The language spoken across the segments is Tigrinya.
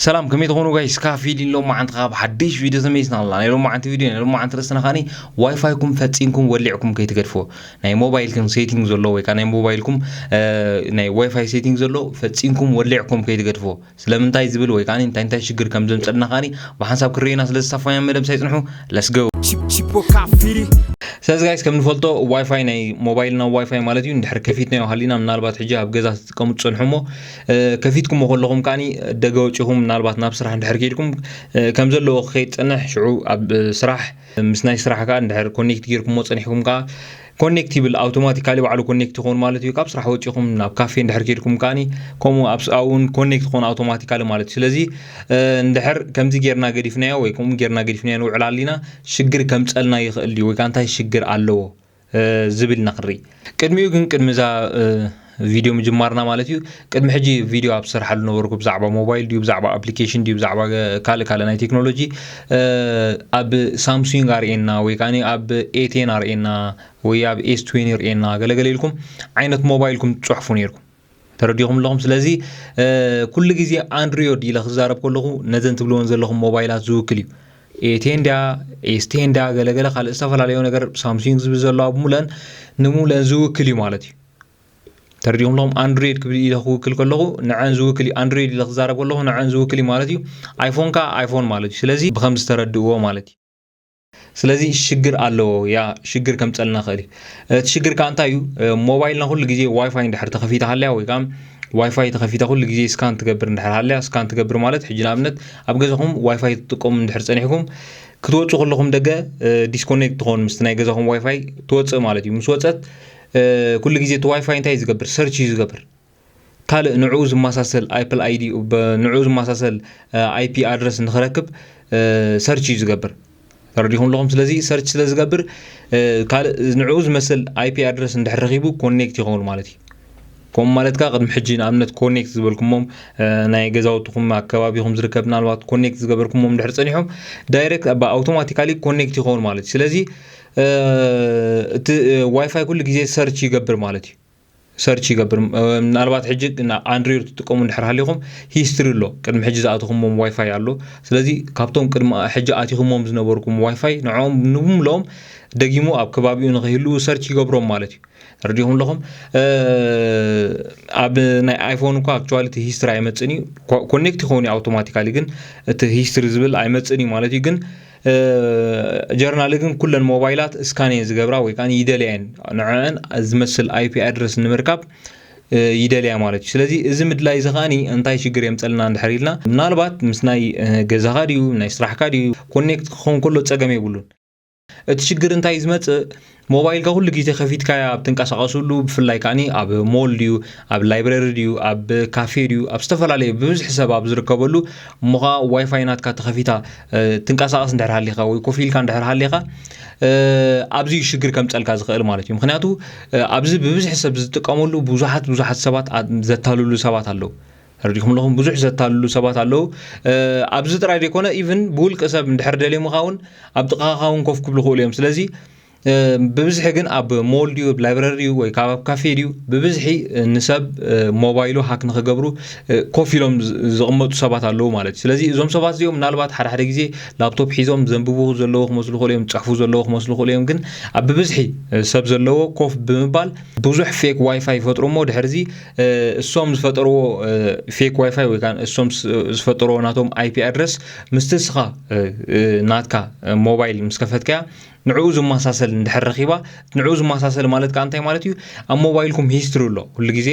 ሰላም ከመይ ትኾኑ ጋይስ ካብ ፊሊን ሎማዓንቲ ካብ ሓድሽ ቪድዮ ተመይስና ኣላ ናይ ሎማዓንቲ ቪድዮ ናይ ሎማዓንቲ ርእስና ካኒ ዋይፋይኩም ፈጺምኩም ወሊዕኩም ከይትገድፍዎ ናይ ሞባይልኩም ሴቲንግ ዘሎ ወይ ከዓ ናይ ሞባይልኩም ናይ ዋይፋይ ሴቲንግ ዘሎ ፈጺምኩም ወሊዕኩም ከይትገድፍዎ ስለምንታይ ዝብል ወይ ከዓ እንታይ እንታይ ሽግር ከም ዘምፀልና ካኒ ብሓንሳብ ክርኤና ስለ ዝሳፋያ መደብ ሳይፅንሑ ለስገው ስለዚ ጋይስ ከም ንፈልጦ ዋይፋይ ናይ ሞባይልና ዋይፋይ ማለት እዩ ንድሕር ከፊትናዮ ሃሊና ምናልባት ሕጂ ኣብ ገዛ ትጥቀሙ ትፀንሑ እሞ ከፊትኩሞ ከለኹም ከኣ ደገ ወጪኹም ምናልባት ናብ ስራሕ እንድሕር ከይድኩም ከም ዘለዎ ክኸይድ ፅንሕ ሽዑ ኣብ ስራሕ ምስ ናይ ስራሕ ከዓ እንድሕር ኮኔክት ጌርኩሞ ፀኒሕኩም ከዓ ኮኔክት ይብል ኣውቶማቲካሊ ባዕሉ ኮኔክት ይኸውን ማለት እዩ ካብ ስራሕ ወጪኹም ናብ ካፌ እንድሕር ከይድኩም ከዓኒ ከምኡ ኣብኡውን ኮኔክት ክኾኑ ኣውቶማቲካሊ ማለት እዩ ስለዚ እንድሕር ከምዚ ጌርና ገዲፍናዮ ወይ ከምኡ ጌርና ገዲፍናዮ ንውዕል ኣሊና ሽግር ከምፀልና ይኽእል እዩ ወይ ከዓ እንታይ ሽግር ኣለዎ ዝብል ኢና ክንርኢ ቅድሚኡ ግን ቅድሚ እዛ ቪድዮ ምጅማርና ማለት እዩ ቅድሚ ሕጂ ቪድዮ ኣብ ዝሰርሓሉ ነበርኩ ብዛዕባ ሞባይል ድዩ ብዛዕባ ኣፕሊኬሽን ድዩ ብዛዕባ ካልእ ካልእ ናይ ቴክኖሎጂ ኣብ ሳምሱንግ ኣርእና ወይ ከዓ ኣብ ኤቴን ኣርእና ወይ ኣብ ኤስ ትዌኒ ርእና ገለገለ ኢልኩም ዓይነት ሞባይልኩም ትፅሕፉ ነይርኩም ተረዲኹም ኣለኹም ስለዚ ኩሉ ግዜ ኣንድሪዮድ ኢለ ክዛረብ ከለኹ ነዘን ትብልዎን ዘለኹም ሞባይላት ዝውክል እዩ ኤቴንዳ ኤስቴንዳ ገለገለ ካልእ ዝተፈላለዩ ነገር ሳምሱንግ ዝብል ዘለዋ ብሙለን ንሙለን ዝውክል እዩ ማለት እዩ ተረዲኹም ኣለኹም ኣንድሮይድ ክብል ኢለ ክውክል ከለኹ ንዐን ዝውክል እዩ ኣንድሮይድ ኢለ ክዛረብ ከለኹ ንዐን ዝውክል እዩ ማለት እዩ ኣይፎን ከዓ ኣይፎን ማለት እዩ ስለዚ ብከም ዝተረድእዎ ማለት እዩ ስለዚ ሽግር ኣለዎ ያ ሽግር ከምፀልና ኽእል እዩ እቲ ሽግር ከዓ እንታይ እዩ ሞባይልና ኩሉ ግዜ ዋይፋይ እንድሕር ተኸፊታ ሃልያ ወይ ከዓ ዋይፋይ ተኸፊታ ኩሉ ግዜ ስካን ትገብር እንድሕር ሃልያ ስካን ትገብር ማለት ሕጂ ንኣብነት ኣብ ገዛኹም ዋይፋይ ትጥቀሙ እንድሕር ፀኒሕኩም ክትወፁ ከለኹም ደገ ዲስኮኔክት ትኾኑ ምስቲ ናይ ገዛኹም ዋይፋይ ትወፅእ ማለት እዩ ምስ ወፀት ኩሉ ግዜ እቲ ዋይፋይ እንታይ እዩ ዝገብር ሰርች እዩ ዝገብር ካልእ ንዕኡ ዝመሳሰል ኣፕል ኣይዲ ንዕኡ ዝመሳሰል ኣይፒ ኣድረስ ንክረክብ ሰርች እዩ ዝገብር ተረዲኹም ኣለኹም ስለዚ ሰርች ስለ ዝገብር ካልእ ንዕኡ ዝመስል ኣይፒ ኣድረስ እንድሕር ረኺቡ ኮኔክት ይኸውን ማለት እዩ ከምኡ ማለት ከዓ ቅድሚ ሕጂ ንኣብነት ኮኔክት ዝበልኩሞም ናይ ገዛውትኹም ኣከባቢኹም ዝርከብ ምናልባት ኮኔክት ዝገበርኩሞም ድሕር ፀኒሖም ዳይሬክት ብ ኣውቶማቲካሊ ኮኔክት ይኸውን ማለት እዩ ስለዚ እቲ ዋይፋይ ኩሉ ግዜ ሰርች ይገብር ማለት እዩ ሰርች ይገብር ምናልባት ሕጂ ኣንድሪር ትጥቀሙ እንድሕር ሃሊኹም ሂስትሪ ኣሎ ቅድሚ ሕጂ ዝኣተኹሞም ዋይፋይ ኣሎ ስለዚ ካብቶም ቅድሚ ሕጂ ኣቲኹሞም ዝነበርኩም ዋይፋይ ንዕኦም ንብምልኦም ደጊሙ ኣብ ከባቢኡ ንኸይህልው ሰርች ይገብሮም ማለት እዩ ረዲኹም ኣለኹም ኣብ ናይ ኣይፎን እኳ ኣክቹዋሊ እቲ ሂስትሪ ኣይመፅን እዩ ኮኔክት ይኸውን እዩ ኣውቶማቲካሊ ግን እቲ ሂስትሪ ዝብል ኣይመፅን እዩ ማለት እዩ ግን ጀርናል ግን ኩለን ሞባይላት እስካን እየን ዝገብራ ወይ ከዓ ይደልያ እየን ንዕዐን ዝመስል ኣይፒ ኣድረስ ንምርካብ ይደልያ ማለት እዩ ስለዚ እዚ ምድላይ እዚ ከዓኒ እንታይ ሽግር የምፀልና እንድሕር ኢልና ምናልባት ምስ ናይ ገዛኻ ድዩ ናይ ስራሕካ ድዩ ኮኔክት ክኸውን ከሎ ፀገም የብሉን እቲ ሽግር እንታይ ዝመፅእ ሞባይልካ ኩሉ ግዜ ከፊትካያ ኣብ ትንቀሳቀሱሉ ብፍላይ ካኒ ኣብ ሞል ድዩ ኣብ ላይብረሪ ድዩ ኣብ ካፌ ድዩ ኣብ ዝተፈላለየ ብብዝሒ ሰብ ኣብ ዝርከበሉ እሞ ከኣ ዋይፋይ ናትካ ተኸፊታ ትንቀሳቀስ እንድሕር ሃሊኻ ወይ ኮፍ ኢልካ እንድሕር ሃሊኻ ኣብዚ ሽግር ከምጸልካ ዝኽእል ማለት እዩ ምክንያቱ ኣብዚ ብብዝሒ ሰብ ዝጥቀመሉ ብዙሓት ብዙሓት ሰባት ዘታልሉ ሰባት ኣለዉ ተረዲኩም ኣለኹም ብዙሕ ዘታልሉ ሰባት ኣለዉ ኣብዚ ጥራይ ዘይኮነ ኢቭን ብውልቂ ሰብ እንድሕር ደልዮምኻ እውን ኣብ ጥቃኻ እውን ኮፍ ክብሉ ክእሉ እዮም ስለዚ ብብዝሒ ግን ኣብ ሞል ድዩ ኣብ ላይብረሪ ድዩ ወይ ካብ ኣብ ካፌ ድዩ ብብዝሒ ንሰብ ሞባይሉ ሃክ ንክገብሩ ኮፍ ኢሎም ዝቕመጡ ሰባት ኣለዉ ማለት እዩ ስለዚ እዞም ሰባት እዚኦም ምናልባት ሓደ ሓደ ግዜ ላፕቶፕ ሒዞም ዘንብቡ ዘለዎ ክመስሉ ክእሉ እዮም ዝፅሕፉ ዘለዎ ክመስሉ ክእሉ እዮም ግን ኣብ ብብዝሒ ሰብ ዘለዎ ኮፍ ብምባል ብዙሕ ፌክ ዋይፋይ ይፈጥሩ እሞ ድሕርዚ እሶም ዝፈጠርዎ ፌክ ዋይፋይ ወይ ከዓ እሶም ዝፈጠርዎ ናቶም ኣይፒ ኣድረስ ምስቲ እስኻ ናትካ ሞባይል ምስ ከፈትካያ ንዕኡ ዝመሳሰል እንድሕር ረኺባ ንዕኡ ዝመሳሰል ማለት ከዓ እንታይ ማለት እዩ ኣብ ሞባይልኩም ሂስትሪ ኣሎ ኩሉ ግዜ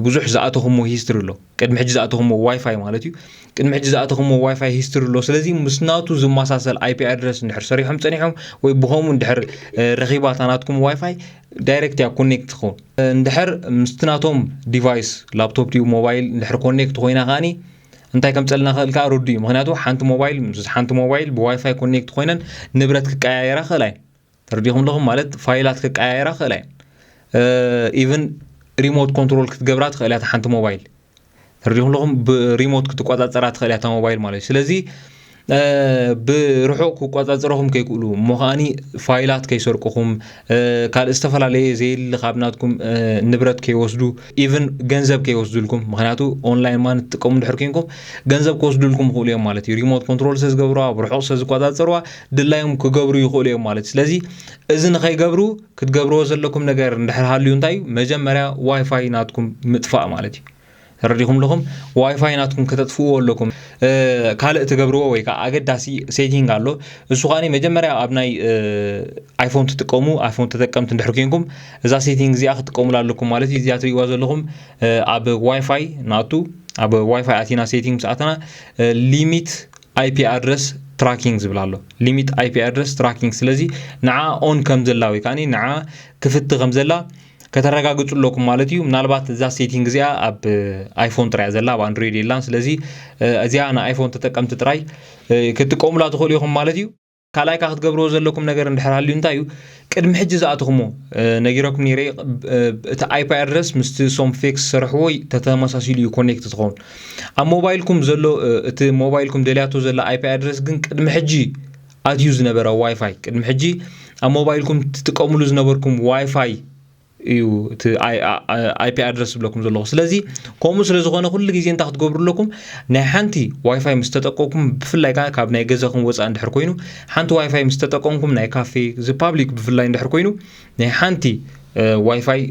ብዙሕ ዝኣተኹሞ ሂስትሪ ኣሎ ቅድሚ ሕጂ ዝኣተኹሞ ዋይፋይ ማለት እዩ ቅድሚ ሕጂ ዝኣተኹሞ ዋይፋይ ሂስትሪ ኣሎ ስለዚ ምስ ናቱ ዝመሳሰል ኣይፒ ኣድረስ እንድሕር ሰሪሖም ፀኒሖም ወይ ብኸምኡ እንድሕር ረኺባ እታ ናትኩም ዋይፋይ ዳይሬክት እያ ኮኔክት ትኸውን እንድሕር ምስቲ ናቶም ዲቫይስ ላፕቶፕ ድዩ ሞባይል እንድሕር ኮኔክት ኮይና ከዓኒ እንታይ ከምፀልና ክእል ከዓ ርዱ እዩ ምክንያቱ ሓንቲ ሞባይል ምስ ሓንቲ ሞባይል ብዋይፋይ ኮኔክት ኮይነን ንብረት ክቀያየራ ክእላ እየን ተረዲኹም ኣለኹም ማለት ፋይላት ክቀያየራ ክእላ እየን ኢቨን ሪሞት ኮንትሮል ክትገብራ ትኽእል እያ ሓንቲ ሞባይል ተሪዲኹም ብሪሞት ክትቆፃፀራ ትኽእል እያ ሞባይል ማለት እዩ ስለዚ ብርሑቕ ክቆፃፀረኹም ከይክእሉ እሞ ከዓኒ ፋይላት ከይሰርቅኹም ካልእ ዝተፈላለየ ዘየሊ ካብ ናትኩም ንብረት ከይወስዱ ኢቨን ገንዘብ ከይወስዱልኩም ምክንያቱ ኦንላይን ማን ትጥቀሙ ድሕር ኮንኩም ገንዘብ ክወስዱልኩም ይኽእሉ እዮም ማለት እዩ ሪሞት ኮንትሮል ስለዝገብርዋ ብርሑቕ ስለዝቆፃፀርዋ ድላዮም ክገብሩ ይኽእሉ እዮም ማለት ስለዚ እዚ ንኸይገብሩ ክትገብርዎ ዘለኩም ነገር እንድሕር ሃልዩ እንታይ እዩ መጀመርያ ዋይፋይ ናትኩም ምጥፋእ ማለት እዩ ተረዲኹም ኣለኹም ዋይፋይ ናትኩም ከተጥፍእዎ ኣለኩም ካልእ ትገብርዎ ወይ ከዓ ኣገዳሲ ሴቲንግ ኣሎ እሱ ከዓኒ መጀመርያ ኣብ ናይ ኣይፎን ትጥቀሙ ኣይፎን ተጠቀምቲ እንድሕር ኮንኩም እዛ ሴቲንግ እዚኣ ክትጥቀሙላ ኣለኩም ማለት እዩ እዚኣ ትሪእዋ ዘለኹም ኣብ ዋይፋይ ናቱ ኣብ ዋይፋይ ኣቲና ሴቲንግ ምስ ኣተና ሊሚት ኣይፒ ኣድረስ ትራኪንግ ዝብል ኣሎ ሊሚት ኣይፒ ኣድረስ ትራኪንግ ስለዚ ንዓ ኦን ከም ዘላ ወይ ከዓኒ ንዓ ክፍቲ ከም ዘላ ከተረጋግጹ ኣለኩም ማለት እዩ ምናልባት እዛ ሴቲንግ እዚኣ ኣብ ኣይፎን ጥራያ ዘላ ኣብ ኣንድሮይድ የላን ስለዚ እዚኣ ንኣይፎን ተጠቀምቲ ጥራይ ክትጥቀሙላ ትኽእሉ ኢኹም ማለት እዩ ካልኣይ ከኣ ክትገብርዎ ዘለኩም ነገር እንድሕር ሃልዩ እንታይ እዩ ቅድሚ ሕጂ ዝኣተኹሞ ነጊረኩም ነይረ እቲ ኣይፒ ኣድረስ ምስቲ ሶም ፌክስ ዝሰርሕዎ ተተመሳሲሉ እዩ ኮኔክት ትኸውን ኣብ ሞባይልኩም ዘሎ እቲ ሞባይልኩም ደልያቶ ዘላ ኣይፒ ኣድረስ ግን ቅድሚ ሕጂ ኣትዩ ዝነበረ ዋይፋይ ቅድሚ ሕጂ ኣብ ሞባይልኩም ትጥቀምሉ ዝነበርኩም ዋይፋይ እዩ እቲ ኣይፒ ኣድረስ ዝብለኩም ዘለኹ ስለዚ ከምኡ ስለ ዝኾነ ኩሉ ግዜ እንታይ ክትገብሩ ኣለኩም ናይ ሓንቲ ዋይፋይ ምስ ተጠቀምኩም ብፍላይ ከዓ ካብ ናይ ገዛኹም ወፃእ እንድሕር ኮይኑ ሓንቲ ዋይፋይ ምስ ተጠቀምኩም ናይ ካፌ እዚ ፓብሊክ ብፍላይ እንድሕር ኮይኑ ናይ ሓንቲ ዋይፋይ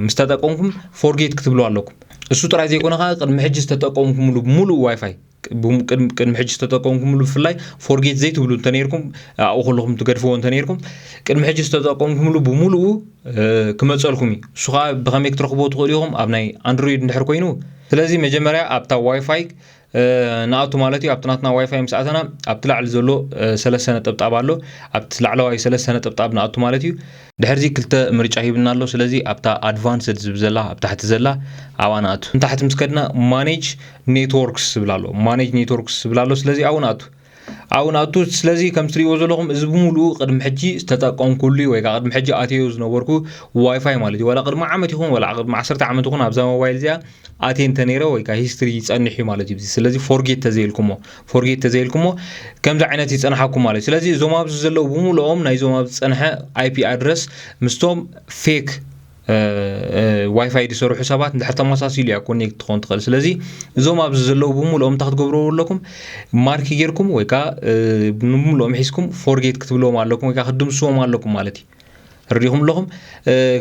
ምስ ተጠቀምኩም ፎርጌት ክትብሉ ኣለኩም እሱ ጥራይ ዘይኮነ ከዓ ቅድሚ ሕጂ ዝተጠቀምኩምሉ ሙሉእ ዋይፋይ ቅድሚ ሕጂ ዝተጠቀምኩምሉ ብፍላይ ፎርጌት ዘይትብሉ እንተነርኩም ኣብኡ ከለኹም ትገድፍዎ እንተነርኩም ቅድሚ ሕጂ ዝተጠቀምኩምሉ ብምሉኡ ክመፀልኩም እዩ እሱ ከዓ ብኸመይ ክትረኽብዎ ትኽእሉ ኢኹም ኣብ ናይ ኣንድሮይድ እንድሕር ኮይኑ ስለዚ መጀመርያ ኣብታ ዋይፋይ ንኣቱ ማለት እዩ ኣብቲ ናትና ዋይፋይ ምስ ኣተና ኣብቲ ላዕሊ ዘሎ ሰለስተ ነጠብጣብ ኣሎ ኣብቲ ላዕለዋይ ሰለስተ ነጠብጣብ ንኣቱ ማለት እዩ ድሕርዚ ክልተ ምርጫ ሂቡና ኣሎ ስለዚ ኣብታ ኣድቫንስድ ዝብ ዘላ ኣብ ታሕቲ ዘላ ኣብኣ ንኣቱ ንታሕቲ ምስ ከድና ማኔጅ ኔትዎርክስ ዝብል ኣሎ ማኔጅ ኔትዎርክስ ዝብል ኣሎ ስለዚ ኣብኡ ንኣቱ ኣብኡ ንኣቱ ስለዚ ከም ትሪእዎ ዘለኹም እዚ ብምሉኡ ቅድሚ ሕጂ ዝተጠቀምኩሉ እዩ ወይ ከዓ ቅድሚ ሕጂ ኣትዮ ዝነበርኩ ዋይፋይ ማለት እዩ ዋላ ቅድሚ ዓመት ይኹን ዋላ ቅድሚ ዓሰርተ ዓመት ይኹን ኣብዛ ሞባይል እዚኣ ኣትየ እንተነይረ ወይ ከዓ ሂስትሪ ይፀንሕ እዩ ማለት እዩ ስለዚ ፎርጌት ተዘይልኩሞ ፎርጌት ተዘይልኩሞ ከምዚ ዓይነት ይፀንሓኩም ማለት ስለዚ እዞም ኣብዚ ዘለዉ ብምልኦም ናይዞም ኣብ ዝፀንሐ ኣይፒ ኣድረስ ምስቶም ፌክ ዋይፋይ ዝሰርሑ ሰባት እንድሕር ተመሳሲሉ እያ ኮኔክት ትኸውን ትኽእል ስለዚ እዞም ኣብዚ ዘለዉ ብምልኦም እንታይ ክትገብርዎ ኣለኩም ማርኪ ጌርኩም ወይ ከዓ ንምልኦም ሒዝኩም ፎርጌት ክትብልዎም ኣለኩም ወይ ከዓ ክትድምስዎም ኣለኩም ማለት እዩ ርዲኹም ኣለኹም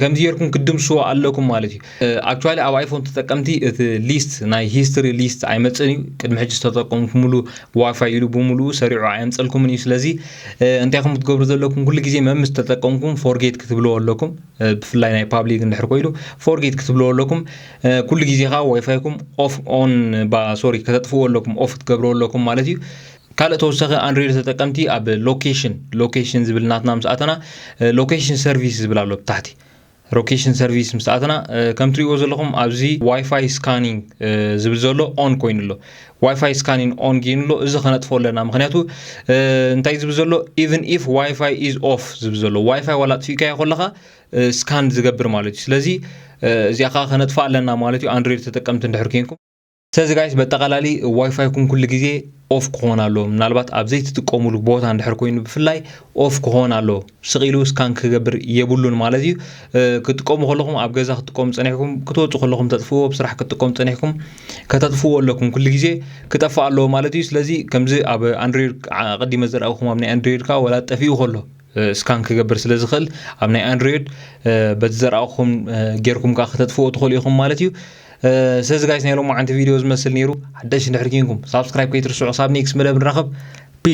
ከምዚ ጌርኩም ክትድምስዎ ኣለኩም ማለት እዩ ኣክቹዋሊ ኣብ ኣይፎን ተጠቀምቲ እቲ ሊስት ናይ ሂስትሪ ሊስት ኣይመፅእን እዩ ቅድሚ ሕጂ ዝተጠቀምኩምሉ ዋይፋይ ኢሉ ብምሉኡ ሰሪዑ ኣየምፀልኩምን እዩ ስለዚ እንታይ ከም ክትገብሩ ዘለኩም ኩሉ ግዜ መምስ ተጠቀምኩም ፎርጌት ክትብልዎ ኣለኩም ብፍላይ ናይ ፓብሊክ እንድሕር ኮይኑ ፎርጌት ክትብልዎ ኣለኩም ኩሉ ግዜ ከዓ ዋይፋይኩም ኦፍ ኦን ሶሪ ከተጥፍዎ ኣለኩም ኦፍ ክትገብርዎ ኣለኩም ማለት እዩ ካልእ ተወሳኺ ኣንድሮይድ ተጠቀምቲ ኣብ ሎኬሽን ሎኬሽን ዝብል ናትና ምስ ኣተና ሎኬሽን ሰርቪስ ዝብል ኣሎ ብታሕቲ ሎኬሽን ሰርቪስ ምስ ኣተና ከም ትሪእዎ ዘለኹም ኣብዚ ዋይፋይ ስካኒንግ ዝብል ዘሎ ኦን ኮይኑ ኣሎ ዋይፋይ ስካኒንግ ኦን ጌኑ ኣሎ እዚ ከነጥፎ ኣለና ምክንያቱ እንታይ ዝብል ዘሎ ኢቨን ኢፍ ዋይፋይ ኢዝ ኦፍ ዝብል ዘሎ ዋይፋይ ዋላ ኣጥፊእካዮ ከለካ ስካን ዝገብር ማለት እዩ ስለዚ እዚኣ ከዓ ከነጥፋ ኣለና ማለት እዩ ኣንድሮይድ ተጠቀምቲ እንድሕር ኮንኩም ስለዚ ጋይስ በጠቓላሊ ዋይፋይኩም ኩሉ ግዜ ኦፍ ክኾን ኣሎ ምናልባት ኣብ ዘይትጥቀሙሉ ቦታ እንድሕር ኮይኑ ብፍላይ ኦፍ ክኾን ኣሎ ስቕ ኢሉ ስካን ክገብር የብሉን ማለት እዩ ክትጥቀሙ ከለኹም ኣብ ገዛ ክትጥቀሙ ፀኒሕኩም ክትወፁ ከለኹም ተጥፍዎ ኣብ ስራሕ ክትጥቀሙ ፀኒሕኩም ከተጥፍዎ ኣለኩም ኩሉ ግዜ ክጠፍእ ኣለዎ ማለት እዩ ስለዚ ከምዚ ኣብ ኣንድሮይድ ቀዲመ ዘርኣኹም ኣብ ናይ ኣንድሮይድ ከዓ ወላ ጠፊኡ ከሎ ስካን ክገብር ስለ ዝኽእል ኣብ ናይ ኣንድሮይድ በቲ ዘርኣኹም ጌርኩም ከዓ ከተጥፍዎ ትኽእሉ ኢኹም ማለት እዩ ስለዚ ጋይስ ናይ ሎማዓንቲ ቪድዮ ዝመስል ነይሩ ሓደሽ እንድሕር ኪንኩም ሳብስክራይብ ከይትርስዑ ክሳብ ኔክስ መደብ ንራኸብ ፒስ